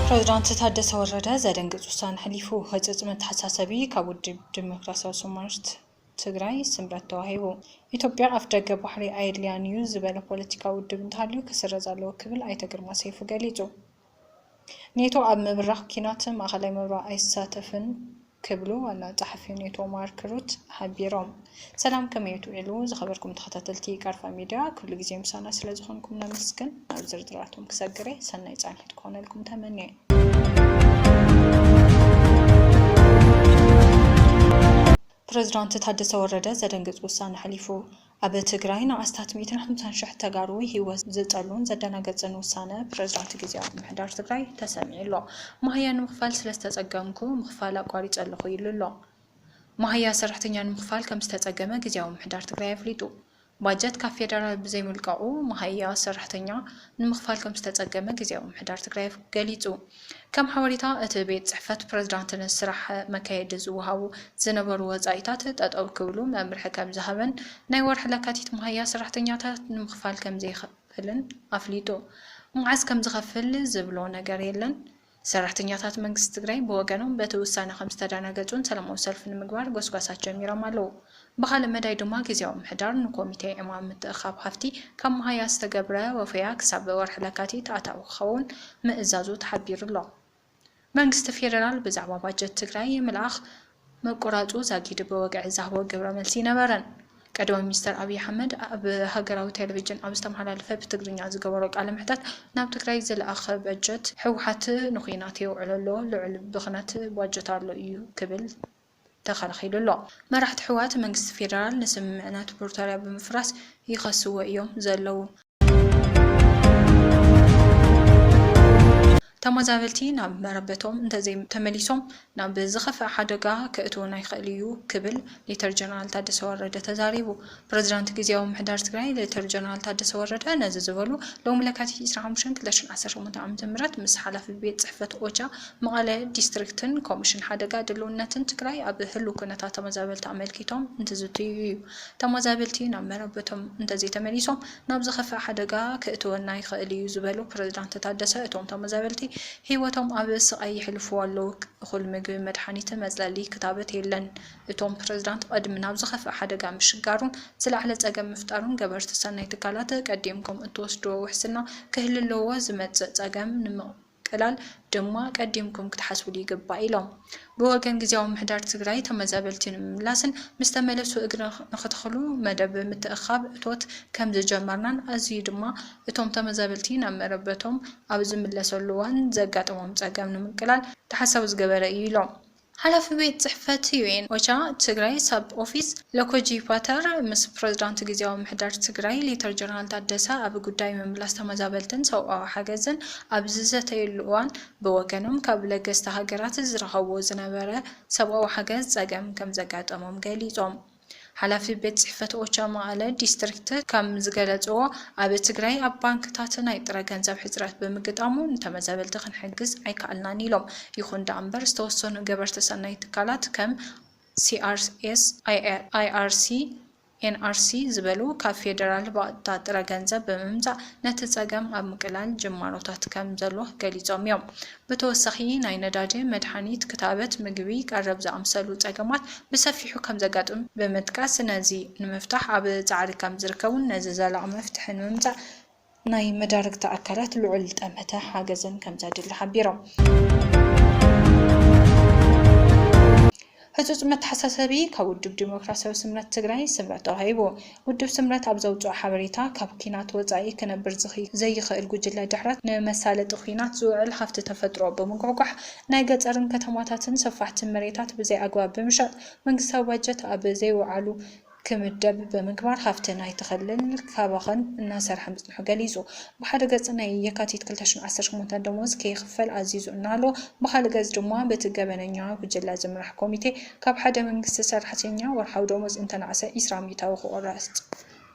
ፕረዚዳንት ታደሰ ወረደ ዘደንግፅ ውሳነ ኣሕሊፉ። ህፅፅ መተሓሳሰቢ ካብ ውድብ ዲሞክራሲያዊ ሶማልት ትግራይ ስምረት ተዋሂቡ። ኢትዮጵያ ኣፍደገ ባሕሪ ኣየድልያን'ዩ ዝበለ ፖለቲካዊ ውድብ እንተሃልዩ ክስረዝ ኣለዎ ክብል ኣይተ ግርማ ሰይፉ ገሊፁ። ኔቶ ኣብ ምብራኽ ኲናት ማእከላይ ምብራቕ ኣይሳተፍን ክብሉ ዋና ጸሓፊ ኔቶ ማርክ ሩት ሓቢሮም። ሰላም ከመይ እትውዕሉ ዝኸበርኩም ተኸታተልቲ ቃርፋ ሚድያ፣ ክሉ ግዜ ምሳና ስለ ዝኾንኩም ነመስግን። ናብ ዝርዝራቶም ክሰግር'የ፣ ሰናይ ጻንሒት ክኾነልኩም ተመንየ። ፕረዚዳንት ታደሰ ወረደ ዘደንግፅ ውሳነ ኣሕሊፉ። ኣብ ትግራይ ንኣስታት ሚእትን ሓምሳን ሽሕ ተጋሩ ህይወት ዝጠሉን ዘደናገፅን ውሳነ ፕረዚዳንት ጊዚያዊ ምምሕዳር ትግራይ ተሰሚዑ ኣሎ። መሃያ ንምኽፋል ስለዝተፀገምኩ ምኽፋል ኣቋሪፀ ኣለኹ ኢሉ ኣሎ። መሃያ ሰራሕተኛ ንምኽፋል ከምዝተፀገመ ጊዚያዊ ምምሕዳር ትግራይ ኣፍሊጡ። ባጀት ካብ ፌደራል ብዘይምልቀቑ መሃያ ሰራሕተኛ ንምኽፋል ከምዝተፀገመ ግዝያዊ ምምሕዳር ትግራይ ገሊፁ። ከም ሓበሬታ እቲ ቤት ፅሕፈት ፕረዚዳንት ንስራሕ መካየዲ ዝወሃቡ ዝነበሩ ወፃኢታት ጠጠው ክብሉ መምርሒ ከምዝሃበን ናይ ወርሒ ለካቲት መሃያ ሰራሕተኛታት ንምኽፋል ከምዘይኽፍልን ኣፍሊጡ። መዓዝ ከምዝኸፍል ዝብሎ ነገር የለን። ሰራሕተኛታት መንግስቲ ትግራይ ብወገኖም በቲ ውሳነ ከምዝተደናገፁን ሰላማዊ ሰልፊ ንምግባር ጎስጓሳት ጀሚሮም ኣለው። ብኻልእ መዳይ ድማ ግዝያዊ ምምሕዳር ንኮሚቴ ዕማም ምትእኽኻብ ሃፍቲ ካብ መሃያ ዝተገብረ ወፈያ ክሳብ ወርሒ ለካቲት ኣታዊ ክኸውን ምእዛዙ ተሓቢሩ'ሎ። መንግስቲ ፌደራል ብዛዕባ ባጀት ትግራይ ምልኣኽ ምቁራጹ ዛጊድ ብወግዒ ዝሃቦ ግብረ መልሲ ነበረን። ቀዳማይ ሚኒስተር ኣብይ ኣሕመድ ኣብ ሃገራዊ ቴለቪጅን ኣብ ዝተመሓላለፈ ብትግርኛ ዝገበሮ ቃለ መሕተት ናብ ትግራይ ዝለኣኽ በጀት ህወሓት ንኩናት የውዕሎ ኣሎ፣ ልዑል ብኽነት ባጀት ኣሎ ኢዩ ክብል ተኸላኺሉ ኣሎ። መራሕቲ ህወሓት መንግስቲ ፌደራል ንስምምዕነት ፕሪቶርያ ብምፍራስ ይኸስዎ ኢዮም ዘለዉ። ተመዛበልቲ ናብ መረበቶም እንተዘይተመሊሶም ናብ ዝኸፍኣ ሓደጋ ከእትወና ይኽእል እዩ ክብል ሌተር ጀነራል ታደሰ ወረደ ተዛሪቡ። ፕረዚዳንት ግዝያዊ ምምሕዳር ትግራይ ሌተር ጀነራል ታደሰ ወረደ ነዚ ዝበሉ ሎሚ ለካቲት ዕስራን ሓሙሽተን ክልተ ሽሕን ዓሰርተ ሸሞንተ ዓመተ ምህረት ምስ ሓላፊ ቤት ፅሕፈት ኦቻ መቐለ ዲስትሪክትን ኮሚሽን ሓደጋ ድልውነትን ትግራይ ኣብ ህልው ኩነታት ተመዛበልቲ ኣመልኪቶም እንትዝትዩ እዩ። ተመዛበልቲ ናብ መረበቶም እንተዘይተመሊሶም ናብ ዝኸፍእ ሓደጋ ክእትወና ይኽእል ኢዩ ዝበሉ ፕረዚዳንት ታደሰ እቶም ተመዛበልቲ ህይወቶም ኣብ ስቓይ የሕልፉ ኣለዉ እኹል ምግቢ መድሓኒት መፅለሊ ክታበት የለን እቶም ፕረዚዳንት ቐድሚ ናብ ዝኸፍእ ሓደጋ ምሽጋሩን ዝለዓለ ፀገም ምፍጣሩን ገበርቲ ሰናይ ትካላት ቀዲምኩም እትወስድዎ ውሕስና ክህልለዎ ዝመፅእ ፀገም ንምቕራፍ ቀላል ድማ ቀዲምኩም ክትሓስብሉ ይግባእ ኢሎም። ብወገን ግዝያዊ ምምሕዳር ትግራይ ተመዛበልቲ ንምምላስን ምስ ተመለሱ እግሪ ንክተኽሉ መደብ ምትእኽኻብ እቶት ከምዝጀመርናን ኣዚዩ ድማ እቶም ተመዛበልቲ ናብ መረበቶም ኣብ ዝምለሰሉ እዋን ዘጋጥሞም ፀገም ንምቅላል ተሓሳቢ ዝገበረ እዩ ኢሎም። ሓላፊ ቤት ፅሕፈት ዩኤን ኦቻ ትግራይ ሳብ ኦፊስ ሎኮጂ ፓተር ምስ ፕረዚዳንት ጊዚያዊ ምሕዳር ትግራይ ሌተር ጀነራል ታደሰ ኣብ ጉዳይ ምምላስ ተመዛበልትን ሰብኣዊ ሓገዝን ኣብ ዝዘተዩሉ እዋን ብወገኖም ካብ ለገስቲ ሃገራት ዝረኸብዎ ዝነበረ ሰብኣዊ ሓገዝ ፀገም ከምዘጋጠሞም ገሊፆም። ሓላፊ ቤት ፅሕፈት ኦቻ መቐለ ዲስትሪክት ከም ዝገለፅዎ፣ ኣብ ትግራይ ኣብ ባንክታት ናይ ጥረ ገንዘብ ሕፅረት ብምግጣሙ ንተመዛበልቲ ክንሕግዝ ኣይከኣልናን ኢሎም። ይኹን ደኣ እምበር ዝተወሰኑ ገበርቲ ሰናይ ትካላት ከም ሲኣርኤስ፣ ኣይኣርሲ፣ ኤንኣርሲ ዝበሉ ካብ ፌደራል ብቐጥታ ጥረ ገንዘብ ብምምፃእ ነቲ ፀገም ኣብ ምቅላል ጅማሮታት ከም ዘሎ ገሊፆም እዮም። ብተወሳኺ ናይ ነዳዲ፣ መድሓኒት፣ ክታበት፣ ምግቢ፣ ቀረብ ዝኣምሰሉ ፀገማት ብሰፊሑ ከምዘጋጥም ብምጥቃስ ነዚ ንምፍታሕ ኣብ ፃዕሪ ከምዝርከቡን ነዚ ዘላቒ መፍትሒ ንምምፃእ ናይ መዳርግቲ ኣካላት ልዑል ጠመተ ሓገዝን ከምዘድሊ ሓቢሮም። ህፁፅ መተሓሳሰቢ ካብ ውድብ ዴሞክራሲያዊ ስምረት ትግራይ፣ ስምረት፣ ተዋሂቡ። ውድብ ስምረት ኣብ ዘውፅኦ ሓበሬታ ካብ ኲናት ወፃኢ ክነብር ዝኽይ ዘይኽእል ጉጅለ ድሕረት፣ ንመሳለጢ ኲናት ዝውዕል ሃፍቲ ተፈጥሮ ብምጉሕጓሕ፣ ናይ ገፀርን ከተማታትን ሰፋሕቲ መሬታት ብዘይ ኣግባብ ብምሻጥ፣ መንግስታዊ ባጀት ኣብ ዘይወዓሉ፣ ክምደብ ብምግባር ሃፍቲ ናይቲ ክልል ክባኽን እናሰርሐ ምጽንሑ ገሊጹ። ብሓደ ገጽ ናይ የካቲት ክልተ ሽሕን ዓሰርተ ሸሞንተን ደሞዝ ከይኽፈል ኣዚዙ እናሃለወ ብኻልእ ገጽ ድማ በቲ ገበነኛ ጉጅለ ዝምራሕ ኮሚቴ ካብ ሓደ መንግስቲ ሰራሕተኛ ወርሓዊ ደሞዝ እንተናእሰ ዒስራ ሚእታዊ ክቑረጽ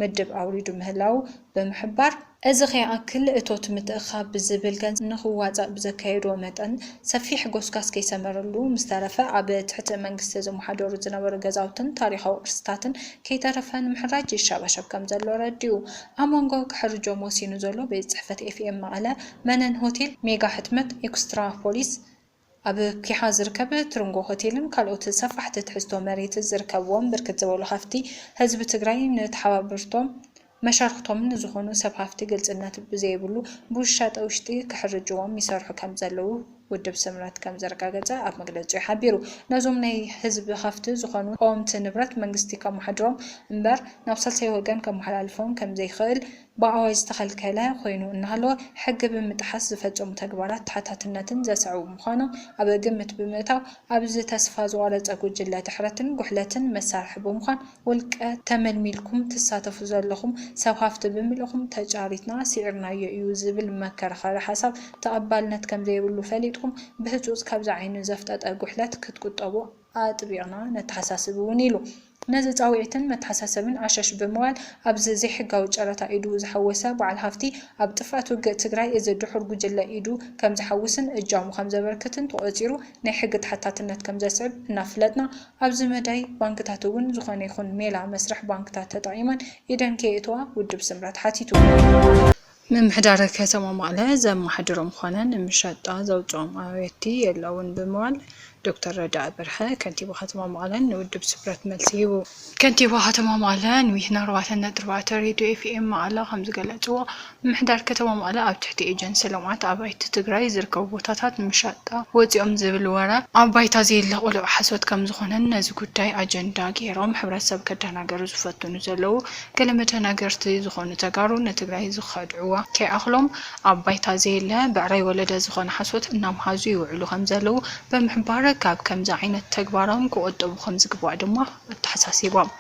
ምድብ ኣውሪዱ ምህላዉ ብምሕባር፣ እዚ ከይኣክል እቶት ምትእኽኻብ ብዝብል ገንዘብ ንኽዋፃእ ብዘካየዱዎ መጠን ሰፊሕ ጎስጋስ ከይሰመረሉ ምስተረፈ ኣብ ትሕቲ መንግስቲ ዝመሓደሩ ዝነበሩ ገዛውትን ታሪኻዊ ቅርስታትን ከይተረፈ ንምሕራጅ ይሸባሸብ ከምዘሎ ኣረዲኡ። ኣብ መንጎ ክሕርጆም ወሲኑ ዘሎ ቤት ፅሕፈት ኤፍኤም መቐለ፣ መነን ሆቴል፣ ሜጋ ሕትመት፣ ኤክስትራ ፖሊስ፣ ኣብ ኲሓ ዝርከብ ትርንጎ ሆቴልን ካልኦት ሰፋሕቲ ትሕዝቶ መሬት ዝርከብዎም ብርክት ዝበሉ ሃፍቲ ህዝቢ ትግራይ ንተሓባበርቶም መሻርኽቶምን ንዝኾኑ ሰብ ሃፍቲ ግልፅነት ብዘይብሉ ብውሻጠ ውሽጢ ክሕርጅዎም ይሰርሑ ከምዘለዉ ውድብ ስምረት ከምዘረጋገፀ ኣብ መግለፂኡ ሓቢሩ። ነዞም ናይ ህዝቢ ሃፍቲ ዝኾኑ ቀወምቲ ንብረት መንግስቲ ከመሓድሮም እምበር ናብ ሳልሳይ ወገን ከመሓላልፎም ከምዘይኽእል ብኣዋጅ ዝተኸልከለ ኮይኑ እናሃለወ ሕጊ ብምጥሓስ ዝፈፀሙ ተግባራት ተሓታትነትን ዘስዕቡ ምዃኖም ኣብ ግምት ብምእታው ኣብዚ ተስፋ ዝቖረፀ ጉጅለ ድሕረትን ጉሕለትን መሳርሒ ብምዃን ውልቀ ተመልሚልኩም ትሳተፉ ዘለኹም ሰብ ሃፍቲ ብምልእኹም ተጫሪትና ስዒርናዮ እዩ ዝብል መከራኸሪ ሓሳብ ተቐባልነት ከምዘይብሉ ፈሊጥኩም ብህፁፅ ካብዚ ዓይኑ ዘፍጠጠ ጉሕለት ክትቁጠቡ ኣጥቢቕና ነተሓሳስብ እውን ኢሉ። ነዚ ፃውዒትን መተሓሳሰብን ዓሻሽ ብምባል ኣብዚ ዘይሕጋዊ ጨረታ ኢዱ ዝሓወሰ በዓል ሃፍቲ ኣብ ጥፍኣት ውግእ ትግራይ እዚ ድሑር ጉጅለ ኢዱ ከምዝሓውስን እጃሙ ከምዘበርክትን ተቖፂሩ ናይ ሕጊ ተሓታትነት ከምዘስዕብ እናፍለጥና ኣብዚ መዳይ ባንክታት እውን ዝኾነ ይኹን ሜላ መስርሕ ባንክታት ተጠቒመን ኢደን ከየእትዋ ውድብ ስምረት ሓቲቱ። ምምሕዳር ከተማ መቐለ ዘመሓድሮም ኾነ ንመሸጣ ዘውፅኦም ኣባይቲ የለውን ብምባል ዶክተር ረዳኢ በርሀ ከንቲባ ከተማ መቐለን ንውድብ ስፕረት መልሲ ሂቡ። ከንቲባ ከተማ መቐለ ንዊትና ኣርባዕተ ነጥቢ ኣርባዕተ ሬድዮ ኤፍኤም መቐለ ከምዝገለፅዎ፣ ምምሕዳር ከተማ መቐለ ኣብ ትሕቲ ኤጀንሲ ልምዓት ኣባይቲ ትግራይ ዝርከቡ ቦታታት ንመሸጣ ወፂኦም ዝብል ወረ ኣብ ባይታ ዘየለ ቅሉዕ ሓሶት ከምዝኾነን ነዚ ጉዳይ ኣጀንዳ ገይሮም ሕብረተሰብ ከደናገሩ ዝፈትኑ ዘለዉ ገለ መደናገርቲ ዝኾኑ ተጋሩ ንትግራይ ዝኸድዕዋ ከይኣኽሎም ኣብ ባይታ ዘየለ ብዕራይ ወለደ ዝኾነ ሓሶት እናምሃዙ ይውዕሉ ከምዘለዉ ብምሕባር ካብ ከምዚ ዓይነት ተግባሮም ክቑጠቡ ከምዝግባእ ድማ ኣተሓሳሲቦም።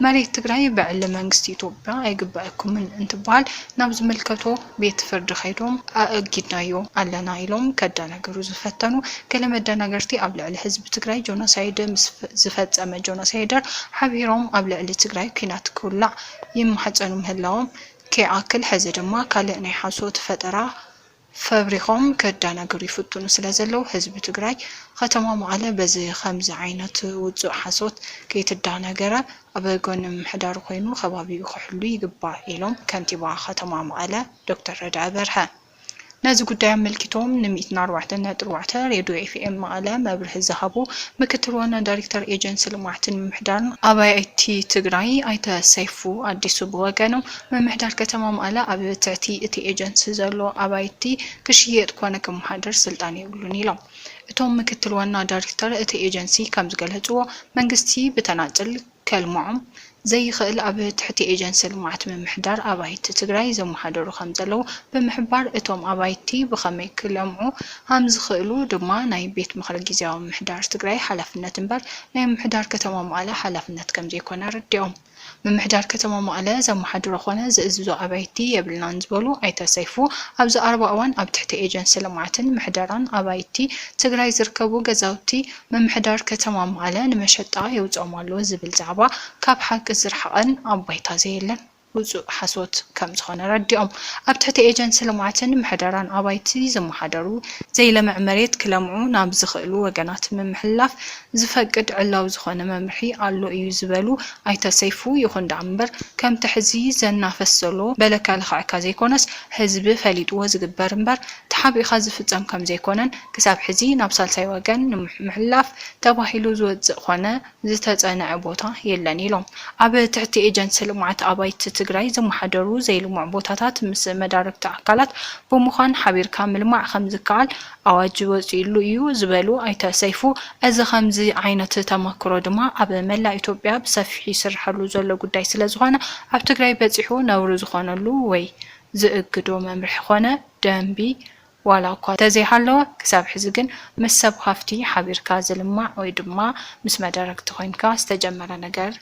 መሬት ትግራይ ብዕሊ መንግስቲ ኢትዮጵያ ኣይግበኣኩምን እንትበሃል ናብ ዝምልከቶ ቤት ፍርዲ ከይዶም ኣእጊድናዮ ኣለና ኢሎም ከደናግሩ ዝፈተኑ ገለ መደናገርቲ ኣብ ልዕሊ ህዝቢ ትግራይ ጆኖሳይድ ምስ ዝፈፀመ ጆኖሳይደር ሓቢሮም ኣብ ልዕሊ ትግራይ ኲናት ክውላዕ ይማሕፀኑ ምህላዎም ከይኣክል ሕዚ ድማ ካልእ ናይ ሓሶት ፈጠራ ፈብሪኾም ከደናግሩ ይፍትኑ ስለ ዘለዉ ህዝቢ ትግራይ ኸተማ መቐለ በዚ ኸምዚ ዓይነት ውፁእ ሓሶት ከይትደናገረ ኣብ ጎኒ ምምሕዳሩ ኮይኑ ከባቢኡ ክሕሉ ይግባእ ኢሎም ከንቲባ ከተማ መቐለ ዶክተር ረዳኢ በርሀ። ነዚ ጉዳይ ኣመልኪቶም ን ሚእትን ኣርባዕተን ነጥቢ ኣርባዕተ ሬድዮ ኤፍኤም መቐለ መብርሂ ዝሃቡ ምክትል ዋና ዳይሬክተር ኤጀንሲ ልምዓትን ምምሕዳርን ኣባይቲ ትግራይ ኣይተ ሰይፉ ኣዲሱ ብወገኖም ምምሕዳር ከተማ መቐለ ኣብ ትሕቲ እቲ ኤጀንሲ ዘሎ ኣባይቲ ክሽየጥ ኮነ ክመሓደር ስልጣን የብሉን ኢሎም። እቶም ምክትል ዋና ዳይሬክተር እቲ ኤጀንሲ ከምዝገለፅዎ፣ መንግስቲ ብተናፅል ከልምዖም ዘይኽእል ኣብ ትሕቲ ኤጀንሲ ልምዓት ምምሕዳር ኣባይቲ ትግራይ ዘመሓደሩ ከምዘለዉ ብምሕባር፣ እቶም ኣባይቲ ብኸመይ ክለምዑ ከምዝኽእሉ ድማ ናይ ቤት ምኽሪ ጊዚያዊ ምምሕዳር ትግራይ ሓላፍነት እምበር ናይ ምምሕዳር ከተማ መቐለ ሓላፍነት ከምዘይኮነ ኣረዲኦም። ምምሕዳር ከተማ መቐለ ዘመሓድሮ ኮነ ዝእዝዞ ኣባይቲ የብልናን ዝበሉ ኣይተ ሰይፉ፣ ኣብዚ ቀረባ እዋን ኣብ ትሕቲ ኤጀንሲ ልምዓትን ምሕደራን ኣባይቲ ትግራይ ዝርከቡ ገዛውቲ ምምሕዳር ከተማ መቐለ ንመሸጣ የውፅኦም ኣሎ ዝብል ዛዕባ ካብ ሓቂ ዝረሓቐን ኣብ ባይታ ዘየለን ውፁእ ሓሶት ከምዝኾነ ኣረዲኦም። ኣብ ትሕቲ ኤጀንሲ ልምዓትን ምሕደራን ኣባይቲ ዝመሓደሩ፣ ዘይለምዕ መሬት ክለምዑ ናብ ዝኽእሉ ወገናት ምምሕልላፍ ዝፈቅድ ዕላዊ ዝኾነ መምርሒ ኣሎ እዩ ዝበሉ ኣይተ ሰይፉ፣ ይኹን ደኣ እምበር ከምቲ ሕዚ ዘናፈስ ዘሎ በለ ከልኽዐካ ዘይኮነስ ህዝቢ ፈሊጥዎ ዝግበር እምበር ተሓቢእኻ ዝፍፀም ከምዘይኮነን ክሳብ ሕዚ ናብ ሳልሳይ ወገን ንምሕላፍ ተባሂሉ ዝወፅእ ኮነ ዝተፀንዐ ቦታ የለን ኢሎም። ኣብ ትሕቲ ኤጀንሲ ልምዓት ኣባይቲ ትግራይ ዝመሓደሩ ዘይልሙዕ ቦታታት ምስ መዳርግቲ ኣካላት ብምዃን ሓቢርካ ምልማዕ ከምዝከኣል ኣዋጅ ወፂኡሉ ኢዩ ዝበሉ ኣይተ ሰይፉ፣ እዚ ከምዚ ዓይነት ተመክሮ ድማ ኣብ መላእ ኢትዮጵያ ብሰፊሑ ይስርሐሉ ዘሎ ጉዳይ ስለዝኾነ ኣብ ትግራይ በፂሑ ነውሪ ዝኾነሉ ወይ ዝእግዶ መምርሒ ኾነ ደንቢ ዋላ እኳ ተዘይሃለወ ክሳብ ሕዚ ግን ምስ ሰብ ሃፍቲ ሓቢርካ ዝልማዕ ወይ ድማ ምስ መደረግቲ ኮይንካ ዝተጀመረ ነገር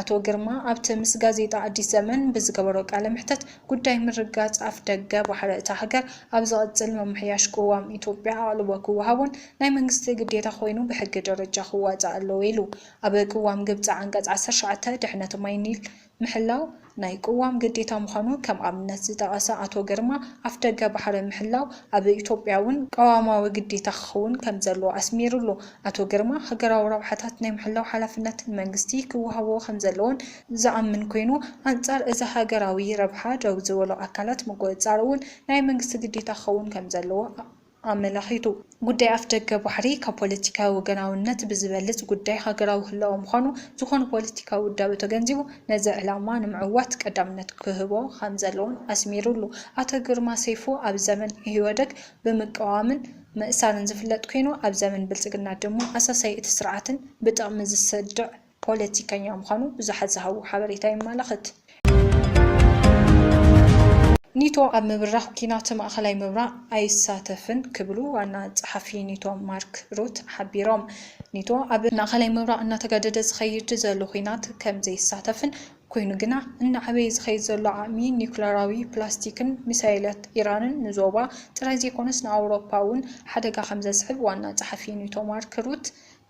ኣቶ ግርማ ኣብቲ ምስ ጋዜጣ ኣዲስ ዘመን ብዝገበሮ ቃለ መሕተት፣ ጉዳይ ምርጋጽ ኣፍደገ ባሕሪ እታ ሃገር ኣብ ዝቕጽል ምምሕያሽ ቅዋም ኢትዮጵያ ኣቕልቦ ክወሃቦን ናይ መንግስቲ ግዴታ ኮይኑ ብሕጊ ደረጃ ክዋጻእ ኣለዎ ኢሉ። ኣብ ቅዋም ግብጺ ዓንቀጽ ዓሰርተ ትሽዓተ ድሕነት ማይ ኒል ምሕላው ናይ ቅዋም ግዴታ ምዃኑ ከም ኣብነት ዝጠቐሰ ኣቶ ግርማ፣ ኣፍደገ ባሕሪ ምሕላው ኣብ ኢትዮጵያ'ውን ቅዋማዊ ግዴታ ክኸውን ከምዘለዎ ኣስሚርሉ። ኣቶ ግርማ፣ ሃገራዊ ረብሓታት ናይ ምሕላው ሓላፍነት ንመንግስቲ ክወሃቦ ከምዘለዎን ዝኣምን ኮይኑ፣ ኣንጻር እዚ ሃገራዊ ረብሓ ደው ዝበሉ ኣካላት ምቁጽጻር እውን ናይ መንግስቲ ግዴታ ክኸውን ከምዘለዎ ኣመላኺቱ። ጉዳይ ኣፍደገ ባሕሪ ካብ ፖለቲካዊ ወገናውነት ብዝበልጽ ጉዳይ ሃገራዊ ህላወ ምዃኑ ዝኾነ ፖለቲካዊ ውዳበ ተገንዚቡ ነዚ ዕላማ ንምዕዋት ቀዳምነት ክህቦ ከምዘለዎን ኣስሚርሉ። ኣቶ ግርማ ሰይፉ ኣብ ዘመን ኢህወደግ ብምቅዋምን፣ ምእሳርን ዝፍለጥ ኮይኑ ኣብ ዘመን ብልፅግና ድሞ ኣሳሳዪ እቲ ስርዓትን ብጥቕሚ ዝስድዕ ፖለቲከኛ ምዃኑ ብዙሓት ዝሃብዎ ሓበሬታ የማላኽት። ኒቶ ኣብ ምብራኽ ኲናት ማእኸላይ ምብራቕ ኣይሳተፍን ክብሉ ዋና ፀሓፊ ኒቶ ማርክ ሩት ሓቢሮም። ኒቶ ኣብ ማእኸላይ ምብራቕ እናተጋደደ ዝኸይድ ዘሎ ዂናት ከምዘይሳተፍን ኮይኑ ግና እናዓበየ ዝኸይድ ዘሎ ዓቕሚ ኒዩክለራዊ ፕላስቲክን ሚሳይላት ኢራንን ንዞባ ጥራይ ዘይኮነስ ንኣውሮፓ እውን ሓደጋ ከምዘስዕብ ዋና ጸሓፊ ኔቶ ማርክ ሩት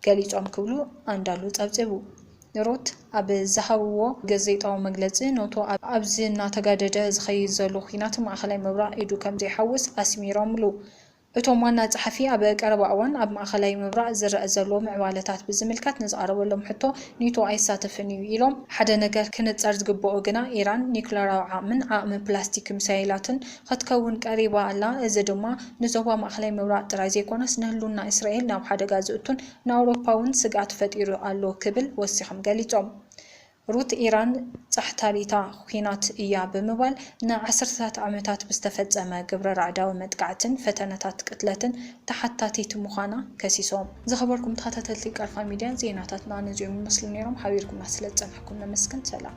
ገሊጾም ክብሉ ኣንዳሉ ጸብጺቡ። ሩት ኣብ ዝሃብዎ ገዘይጣዊ መግለጺ ኖቶ ኣብዚ እናተጋደደ ዝኸይድ ዘሎ ኲናት ማእከላይ ምብራቕ ኢዱ ከምዘይሓውስ ኣስሚሮምሉ። እቶም ዋና ጸሓፊ ኣብ ቀረባ እዋን ኣብ ማእኸላይ ምብራቕ ዝረኣ ዘሎ ምዕባለታት ብዝምልከት ንዝቐረበሎም ሕቶ ኔቶ ኣይሳተፍን እዩ ኢሎም። ሓደ ነገር ክንጸር ዝግበኦ ግና ኢራን ኒዩክለራዊ ዓቕምን ዓቕሚ ፕላስቲክ ሚሳይላትን ኸትከውን ቀሪባ ኣላ፣ እዚ ድማ ንዞባ ማእኸላይ ምብራቕ ጥራይ ዘይኮነስ ንህልውና እስራኤል ናብ ሓደጋ ዝእቱን ንኣውሮፓ'ውን ስግኣት ፈጢሩ ኣሎ ክብል ወሲኾም ገሊጾም። ሩት ኢራን ጻሕታሊታ ኲናት እያ ብምባል ንዓሰርተታት ዓመታት ብዝተፈጸመ ግብረ ራዕዳዊ መጥቃዕትን ፈተነታት ቅትለትን ተሓታቲት ምዃና ከሲሶም። ዝኸበርኩም ተኸታተልቲ ቀርፋ ሚድያ ዜናታትና ነዚኦም ይመስሉ ነይሮም። ሓቢርኩምና ስለ ዝጸናሕኩም ነመስግን። ሰላም።